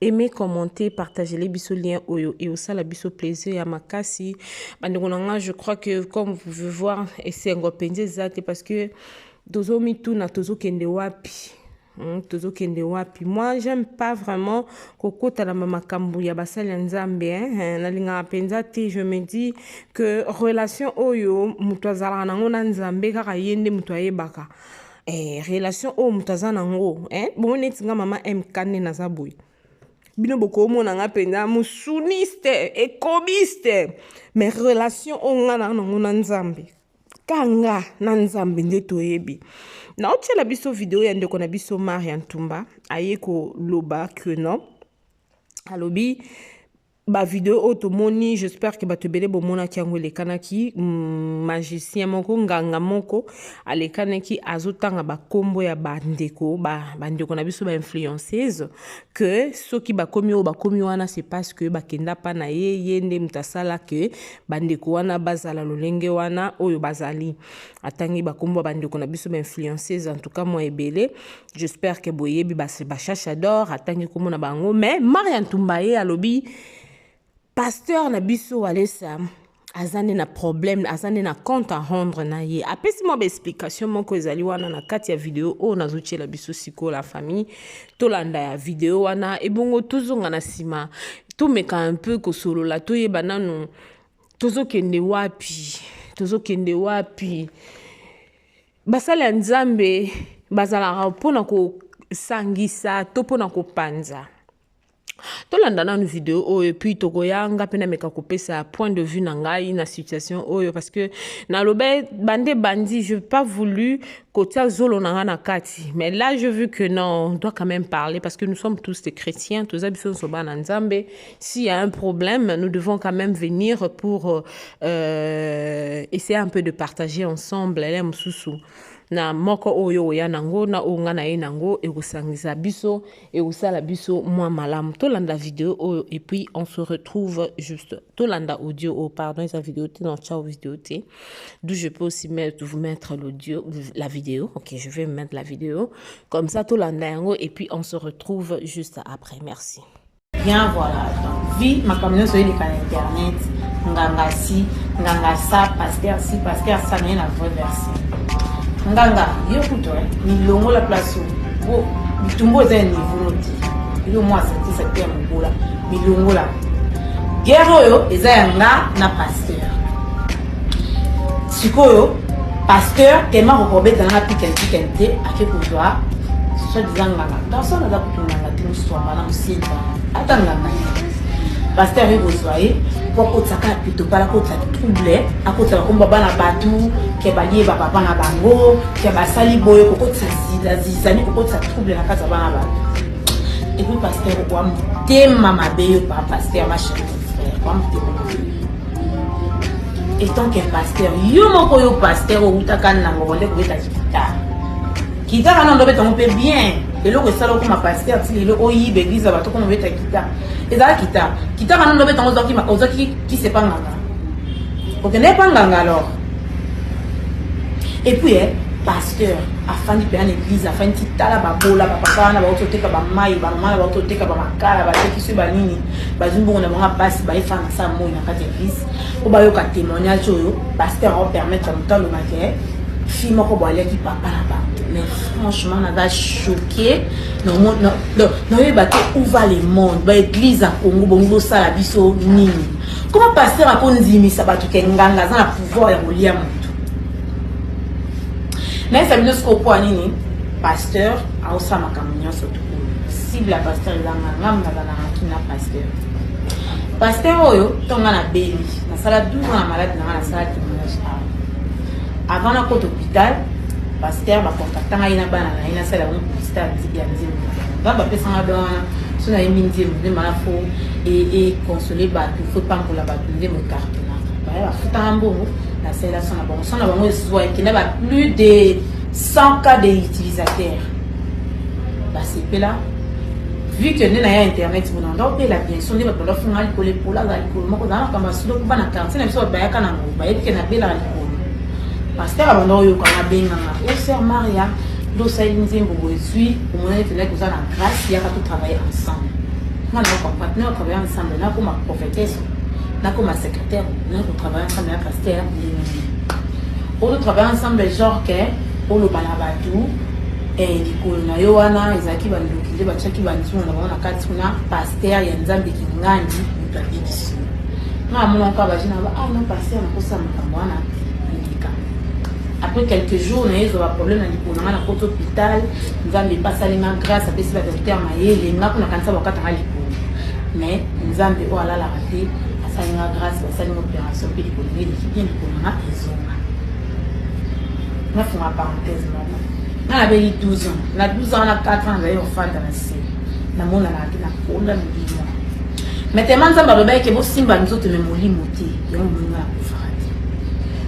Aimez, commentez, partagez biso lien oyo et osala biso plaisir ya makasi. Bandeko na nga, je crois que comme vous pouvez voir, esengo penze zate parce que tozo mituna, tozo kende wapi. Hmm, tozo kende wapi. Moi, j'aime pas vraiment kokota na makambo ya basali ya Nzambe, hein. hein Nalingaka penza te, je me dis que relation oyo mutu azalaka nango na Nzambe kaka yende mutu ayebaka. eh, relation oyo moto aza nango eh? bongo neti nga mama mk nde naza boye bino bokomona nga mpenza mosuniste ekobiste mais relation oyo nga naa nango na nzambe kanga na nzambe nde toyebi naotyela biso video ya ndeko na biso maria ntumba aye koloba que non alobi ba video oyo tomoni j'espère que bato ebele bomonaki yango elekanaki mm, magicien moko nganga moko alekanaki azotanga bakombo ya bandeko bandeko na biso bainfluenceuse que soki bakomi oyo bakomi wana c'est parce que bakenda mpa na ye ye nde moto asala ke bandeko wana bazala lolenge wana oyo bazali atangi bakombo ya bandeko na biso bainfluenceuse en tout cas mwa ebele J'espère que boyebi ba ba chachador atangi kombo na bango mais Maria Ntumba ye alobi pasteur na biso Walesa aza nde na problème aza nde na compte à rendre na ye apesi mwa baexplication moko ezali wana na kati ya video oyo nazotyela biso sikoyo la famille tolanda ya video wana ebongo tozonga na nsima tomeka un peu kosolola toyeba nanu tozokende wapi tozokende wapi Basali ya Nzambe bazalaka mpo na kosangisa to mpo na kopanza. tolanda nanu video oyo epuis tokoya nga mpe nameka kopesa point de vue na ngai na situation oyo parce que nalobe bande bandi je pas voulu kotia zolo na nga na kati mais là je vu que non on doit quand même parler parce que nous sommes tous des chrétiens toza biso nyonso bana nzambe s'il y a un problème, nous devons quand même venir pour euh, euh essayer un peu de partager ensemble les hein, mususu na moko oyo oya nango na oyo nga na ye nango ekosangisa biso ekosala biso mwa malamu tolanda video oyo et puis on se retrouve juste tolanda audio oyo pardon eza video te non ciao video te d'où je peux aussi mettre, vous mettre l'audio la vidéo ok je vais mettre la vidéo comme ça tolanda yango et puis on se retrouve juste après merci Bien voilà donc vie makambo nyonso eleka na internet nganga si nganga sa pasteur si pasteur sa naye na vrai version nganga yo kutu milongola place oyo bitumbu eza ya niveau noti yo mwa asantisa te ya mobola milongola guerre oyo eza ya nga na pasteur sikoyo pasteur tema kokobetana na pikenpiken te ake kozwa soi disant nganga garçon aza kotunganga ata nganga pasteur ye kozwa ye po akotisa kaka pitopala akotisa trouble akotisa bakomba bana bato ke bayeba papa na bango ke basali boye kokotisa zizani kokotisa trouble na kati ya bana bato epuis pasteur okoa motema mabe yo pa pasteur machefrère okoa motema mabe etant ke pasteur yo moko yo pasteur owutaka nango bonde kobeta gitare Guitare wana ndobe tongo mpe bien eloko esala okoma paster ti lelo oyiba eglise ya bato okoma obeta guitare ezala guitare guitare wana ndobe tongo ozwaki kisi epa nganga okende epa nganga alors epuis eh, pasteur afandi mpenza na eglise afandi ti tala babola bapapa wana bauti oteka bamai bamama na bauti oteka bamakala batekisi banini bazwi mbongo na bango basi bayefana sa moi na kati ya eglise mpo bayoka témoignage oyo pasteur aopermettre moto alobake fille moko bo aliaki papa na bato mais franchement naza choqué naoyeba te où va le monde baeglise ya congo bongi bosala biso nini koma paster akondimisa bato ke nganga aza na pouvoir ya kolia moto nayesa bino sikoyo mpo ya nini paster aosala makambo nyonso tukulu cible ya paster eza nganga nazalaki na paster paster oyo ntonga na beli nasala 12 ans na malade na nga nasala témoignage awa Avant na kota hôpital, pasteur ba contacta ngai na bana na ye nasala yango constat ya miziki ya nzembo nga bapesa nga don wana so nayebi nzembo nde maa fo econsole e bato fo epambola bato nzembo ekartonaka baya bafutanga mbongo nasalela so na bango so na bango ezwa ekenda ba plus de 100 cas de utilisateur basepela vu que nde naya internet bonanda opela bien so nde bato balafunga likolo epola za likolo moko zala makambo ya sudoku bana quartier na biso bato bayaka nango bayebi ke nabelaka likolo paster abanda oyoka nabenganga o oh, ser maria nde osali nzembo bozwi omonani tozalaki koza na grace yaka totravaille ensemble nga na comprendre na travaille ensemble nakoma prophétesse nakoma secrétaire na kotravaille ensemble na paster ndenge oyo totravaille ensemble genre ke oloba na bato eh, likolo na yo wana ezalaki bandoki nde batiaki banzungu na bango na kati kuna paster ya nzambe kingandi moto abikisi nga amona kaka baje naba ah non pasteur nakosa makambo wana eleka après quelques jours naye ezwa baproblème na likolo na nga na koti hôpital nzambe epasali nga grâce apesi badokter mayele nga kuna kanisa bakata nga likolo mais nzambe oyo alalaka te asali nga grâce basali nga opération mpe likolo nde eleki bien likolo na nga ezonga nafunga parenthèse moko nga nabeli 12 ans na 12 ans na 4 ans nazali ofanda na se namonanaki nakola milimo Mais tellement Nzambe alobaki ke bosimba nzoto mais molimo te, yango moninga akufaka te.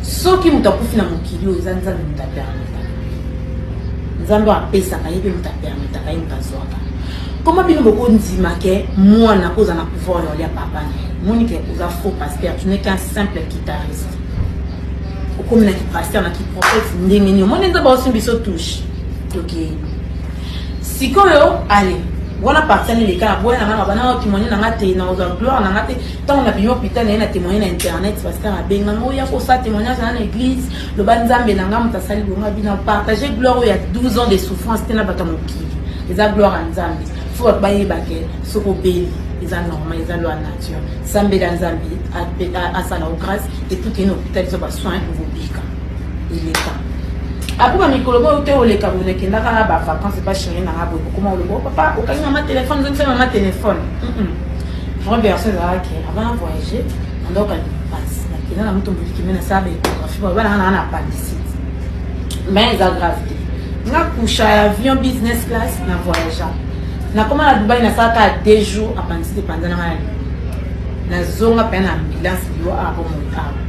Soki moto akufi na mokili oyo eza Nzambe moto apermetaka. Nzambe apesaka ye mpe moto apermetaka ye moto azwaka. Koma bino bokondima ke mwana oza na pouvoir ya olia papa na ye. Moni ke oza faux pasteur, tu n'es qu'un simple guitariste. Okomi na ki pasteur na ki prophète ndenge nini? Omoni Nzambe aosimbi biso touche. Tokei. sikoyo ale wana parti ani leka na boya na nga nabana na témoigne na nga te na ozwa gloire na nga te ntango na bima hôpital na ye na témoigne na internet pasteur abenga nga oya kosala témoignage na na église loba nzambe na nga moto asali bonga bina partage gloire oyo ya 12 ans de souffrance te na bato ya mokili eza gloire ya nzambe fo bato bayebake soki obeli eza normal eza loi nature sambela nzambe asala o grâce epuki na hôpital eza basoin okobika eleka après bamikolo boyo te oleka boye nakendaka na bavacance epa chéri nanga boye kokoma oloba oh, papa okangi mama telefone ozongisa mama telefone grand berso ezalaki avant voyage nandoka lipasi nakenda na moto molikime nasala baecographie baoba nanga nanga na apandisite mais eza grave te nga kusha ya avion business class na voyagea nakoma na dubai nasalaka deux jours apandisite epanza nanga na nazonga mpe na ambulance liwa apo motaa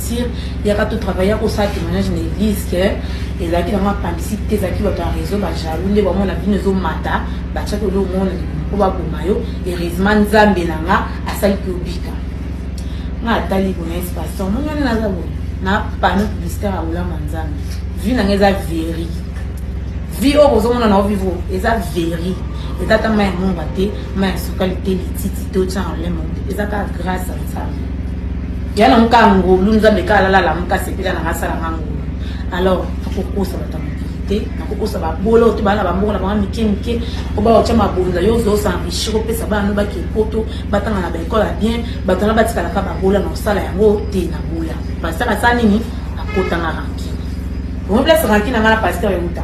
martyr yaka to travailler akosala témoignage na église ke ezalaki nango apandisi te ezalaki bato ya réseau bajaloux nde bamona bino ezomata batiaki olo omona po baboma yo heureusement nzambe na nga asali mpe obika nga atali boye espasion moni wana naza boye na panneau publicitaire ya olama nzambe vie na nga eza veri vie oyo ozomona na ovivo eza veri eza ata mai ya monga te mai ya sukali te lititi te otyana olema eza kaka grâce ya nzambe ya na muka ngulu nzambe ka alala la muka sepela na ngasala nga ngulu alors akokosa bato te nakokosa babolo to bana bambongo na bango mike mike po baotya mabonza yo ozo osanrichir opesa bana no bake poto batanga na baekole ya bien bato wana batikalaka babola na kosala yango te na boya pasteur asala nini akotanga rankine omo place rankine anga na pasteur euta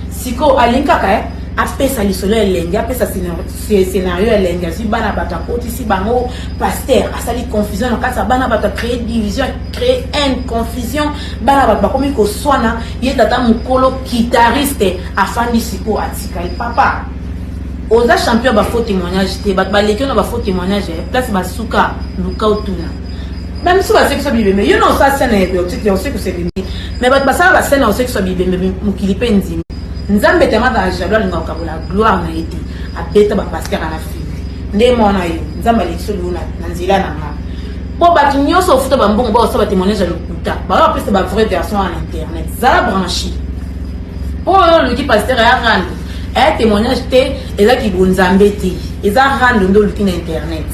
sikoyo alingi kaka eh? apesa lisolo ya elengi apesa scenario ya elengi azwi bana bato akotisi bango pasteur asali confusion na kati ya bana bato acree division acree haine confusion bana bato bakomi koswana ye tata mokolo kitariste afandi sikoyo atikali papa oza champion bafaux témoignage te bato baleki na bafaux témoignage eh, place basuka luka otuna bamisu basekisa bibembe yo na osala sene ya biotique ya osekisa bibembe me bato basala basene ya osekisa bibembe mokili mpe ndimi nzambe te amazala jalo alinga kokabola gloire na ye te abeta bapaster alafi nde mwana yo nzambe alekisoli yo na nzela na nga mpo bato nyonso ofuta bambongo baosala batémoignage ya lokuta bayo bapesa bavrai version ya na internet zala branchi mpo oyo oluki paster ya rando aya témoignage te eza kibonzambe te eza rando nde oluki na internet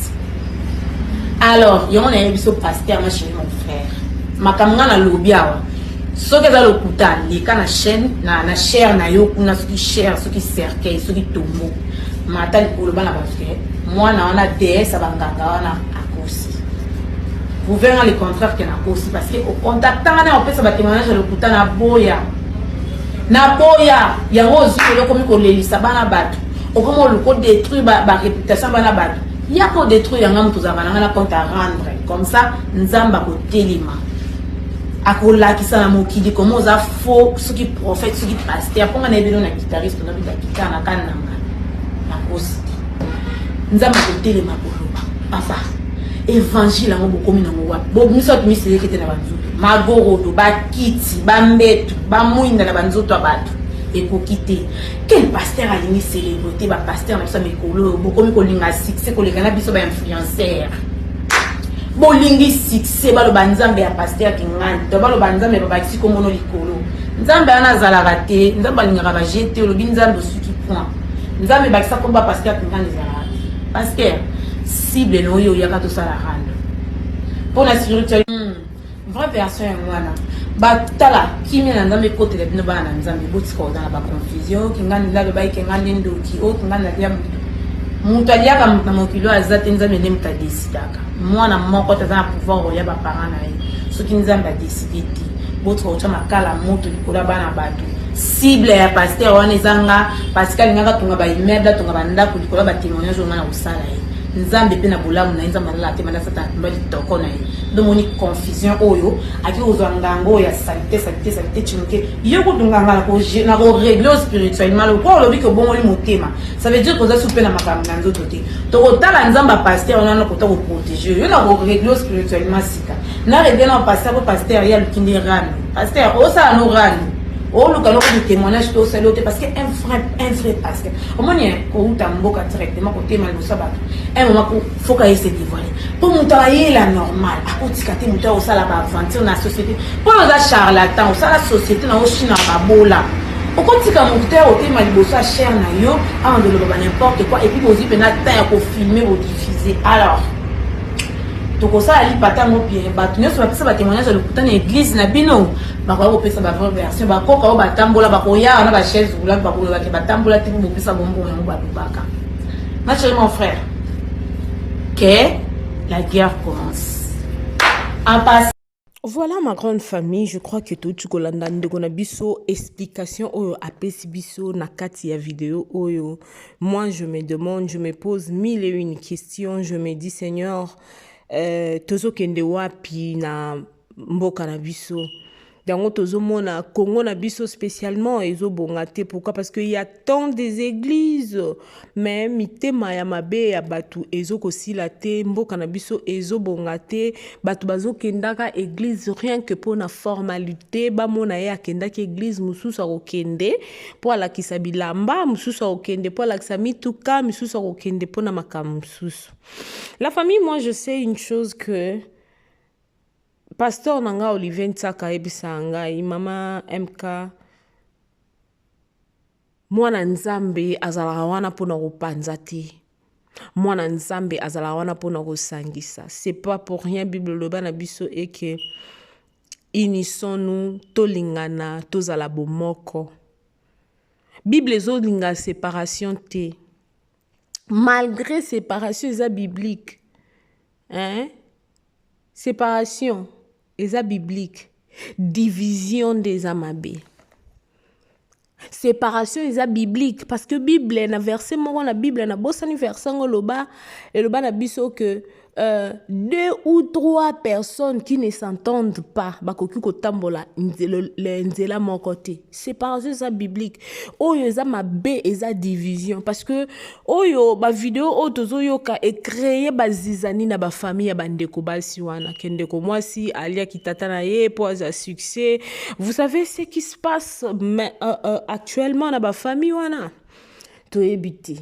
alors yango nayebi biso paster ma chéri mon frère makambo ngai nalobi awa soki eza lokuta leka na chaîne na, na chaire na yo kuna soki chaire soki cercueil soki tombo mata likolo bana bato ke mwana wana deesse ya banganga wana akosi prouve nga le contraire ke nakosi parce que ocontactanga na opesa batémoignage ya lokuta na boya na boya yango ozwi lelo okomi kolelisa bana bato okomi oluka odétruire baréputation bana bato ya kodétruire yanga moto ozalaka nanga na compte à rendre comme ça nzambe akotelema akolakisa na mokili koma oza faux soki prophète soki paster mpo nga na ye bino na guitariste nakitana kani na ngai nakosi te nzambe akotelema koloba papa evangile yango bokomi nango wapi bomiso atu miseleke te na banzoto magorodo bakiti bambetu bamwinda na banzoto ya bato ekoki te quel paster alingi celebre te bapaster na biso ya mikolo oyo bokomi kolinga succès koleka na biso bainfluenceur bolingi succès se baloba nzambe ya paster kingani to baloba nzambe babakisi komono likolo nzambe wana azalaka te nzambe alingaka baje te olobi nzambe osuki point nzambe ebakisa koba paster kingani ezalaka te paster cible na oyo oyaka tosala rando mpo na spirituel hmm. vraie version yango wana batala kimia na nzambe ekotela bino bana na nzambe botika oza na baconfusion oyo kingani nzambe bayike nga nde ndoki oyo kingani nalia moto aliaka na mokili oyo aza te nzambe nde moto adesidaka mwana moko te aza na pouvoir oya baparent na ye soki nzambe adeside te botika kotya makala moto likolo ya bana bato cible ya paster wana eza nga paske alingaka atonga baimmeuble atonga bandako likolo ya batemoignage oyo nga na kosala ye nzambe mpe na bolamu na ye nzambe alala te manda satana mba litoko na ye domoni confusion oyo ake kozwa nganga oyo ya salite salite salite cimoke yo kutu nganga na koregle spirituellement lokola olobi ke obongoli motema ça veut dire koza supe na makambo na nzoto te tokotala nzambe ya pasteur wana nakota koprotege yo na koregle spirituellement sika na regle na pasteur po pasteur ye aluki nde rami pasteur osala no rami oluka loko de témoignage to osali yo te parce que un vrai un vrai pasteur omoni kouta mboka directement kotema liboso ya bato un moment foka ye se dévoile mpo moto ayela normal akotika te moto akosala baaventure na société mpo oza charlatan osala société na oshina babola okotika moto te otema liboso ya chere na yo awa ndoloba ba n'importe quoi epuis bozwi mpena temps ya kofilme bodifuse alors tokosala lipata yango bien bato nyonso bapesa batémoignage ya lokuta na église na bino bakoya kopesa bavrai version bakoka oyo batambola bakoya wana bachaise roulante bakolobake batambola te mpo bopesa bombo yango balobaka Ma chérie, mon frère, que la guerre commence. En passant, Voilà ma grande famille, je crois que tout ce kolanda ndeko na biso explication oyo apesi biso na kati ya vidéo oyo. Moi je me demande, je me pose mille et une questions, je me dis Seigneur, euh, tozokende wapi na mboka na biso yango tozomona congo na biso spécialement ezobonga te pourquoi parce qu'il y a tant des églises mais mitema ya mabe ya bato ezokosila te mboka na biso ezobonga te bato bazokendaka église rien que mpo na formalité bamona ye akendaki église mosusu akokende mpo alakisa bilamba mosusu akokende mpo alakisa mituka misusu akokende mpo na makambo mosusu la famille moi je sais une chose que Pasteur na nga Olivier Nsaka ayebisa ngai mama MK mwana Nzambe azalaka wana mpo na kopanza te mwana Nzambe azalaka wana mpo na kosangisa c'est pas pour rien Bible loba na biso eke unissons-nous tolingana tozala bomoko Bible ezolinga separation te malgré séparation eza biblique hein? séparation eza biblique division nde eza mabe séparation eza biblique parce que bible na verset moko na bible nabosani verset yango eloba eloba na biso que Euh, deux ou trois personnes qui ne s'entendent pas bakoki kotambola nzela moko te séparation eza biblique oyo eza mabe eza division parce que oyo bavideo oyo tozoyoka ecreye bazizani na bafamille ya bandeko basi wana ke ndeko mwasi aliaki tata na ye mpo aza succès vous savez ce qui se passe mais, euh, euh, actuellement na bafamille wana toyebi te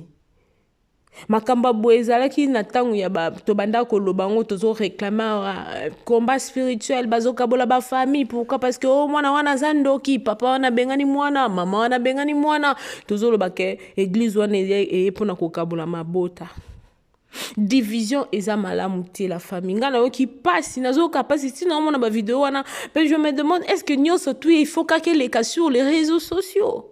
makambo ya boye ezalaki na ntango ya ba tobandaka koloba yango tozo réclame euh, combat spirituel bazokabola bafamille pourquoi parce que o oh, mwana wana aza ndoki papa wana abengani mwana mama wana abengani mwana tozoloba ke eglise wana eye mpona kokabola mabota division eza malamu te la famille ngai nayoki mpasi nazoyoka mpasi ntina omona bavideo wana mpe je me demande est ce que nyonso tu il faut kaka eleka sur les réseaux sociaux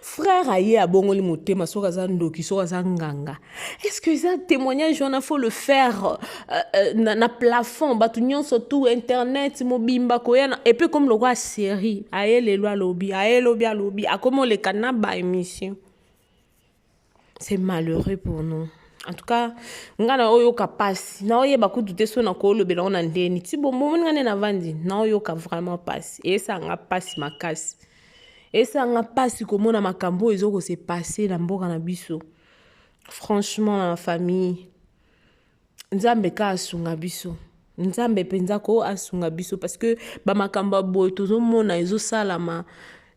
frère aye abongoli motema soki aza ndoki soki aza nganga est ce que eza témoignage wana faut le faire euh, euh, na, na plafond bato nyonso tout internet mobimba koya na epe ekomi lokola série aye lelo alobi aye lobi alobi akomi oleka na ba émission c'est malheureux pour nous en tout cas nga na oyoka pasi na oyeba kutu te so na kolobela ngo na ndeni ti bomoni nga nde navandi na oyoka vraiment pasi eyesaka nga pasi makasi eyesaka nga pasi komona makambo oyo ezokose passe na mboka na biso franchement na famille Nzambe ka asunga biso. Nzambe penza ko asunga biso parce que ba makambo boye tozomona ezosalama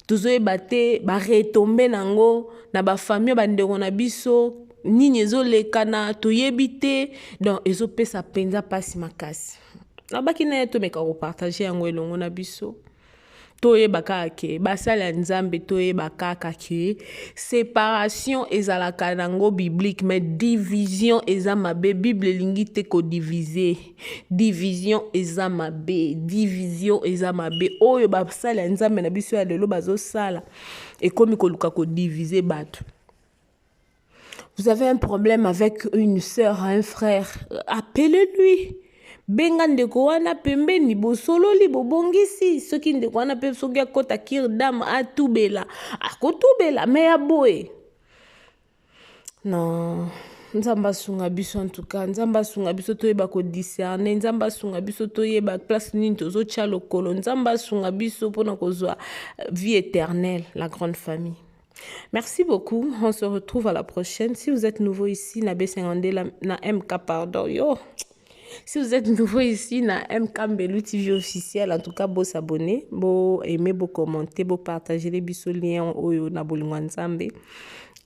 tozoyeba te ba retombe nango na ba famille ba ndeko na biso nini ezolekana toyebi te donc ezopesa penza pasi makasi. Nabaki naye tomeka ko partager yango elongo na biso. toyeba kaka ke basali ya nzambe toyeba kaka ke separation ezalaka nango biblique mais division eza mabe bible elingi te kodivise division eza mabe division eza mabe oyo basali ya nzambe na biso ya lelo bazosala ekomi koluka kodivise bato Vous avez un problème avec une sœur, un frère, appelez-lui. benga ndeko wana pembeni bosololi bobongisi soki ndeko wana mpe soki akota kir dame atubela akotubela me ya boye non nzambe asunga biso antuka nzambe asunga biso toyeba kodiscerne nzambe asunga biso toyeba place nini tozotya lokolo nzambe asunga biso mpona kozwa vie éternelle la grande famille Merci beaucoup. On se retrouve à la prochaine. Si vous êtes nouveau ici, na B52, la, na MK, pardon, yo. Si vous êtes nouveau ici, na MK Mbelu TV officiel, en tout cas, beau s'abonner, beau aimer, beau commenter, beau partager les bisous liens oyo na bolingwa nzambe.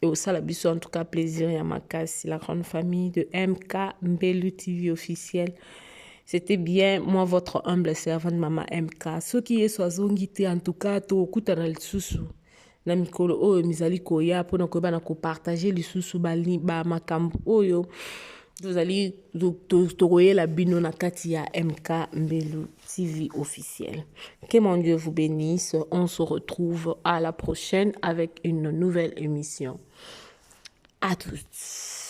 Et au sala bisous, en tout cas, plaisir ya makasi, la grande famille de MK Mbelu TV officiel. C'était bien, moi, votre humble servante, maman MK. Ceux qui est sois en tout cas, to okutana lisusu. na mikolo oyo mizali koya mpo na koyeba na kopartage lisusu bamakambo oyo tozali tokoyela bino na kati ya mk mbelu tv officiel que mon dieu vous bénisse on se retrouve à la prochaine avec une nouvelle émission à tous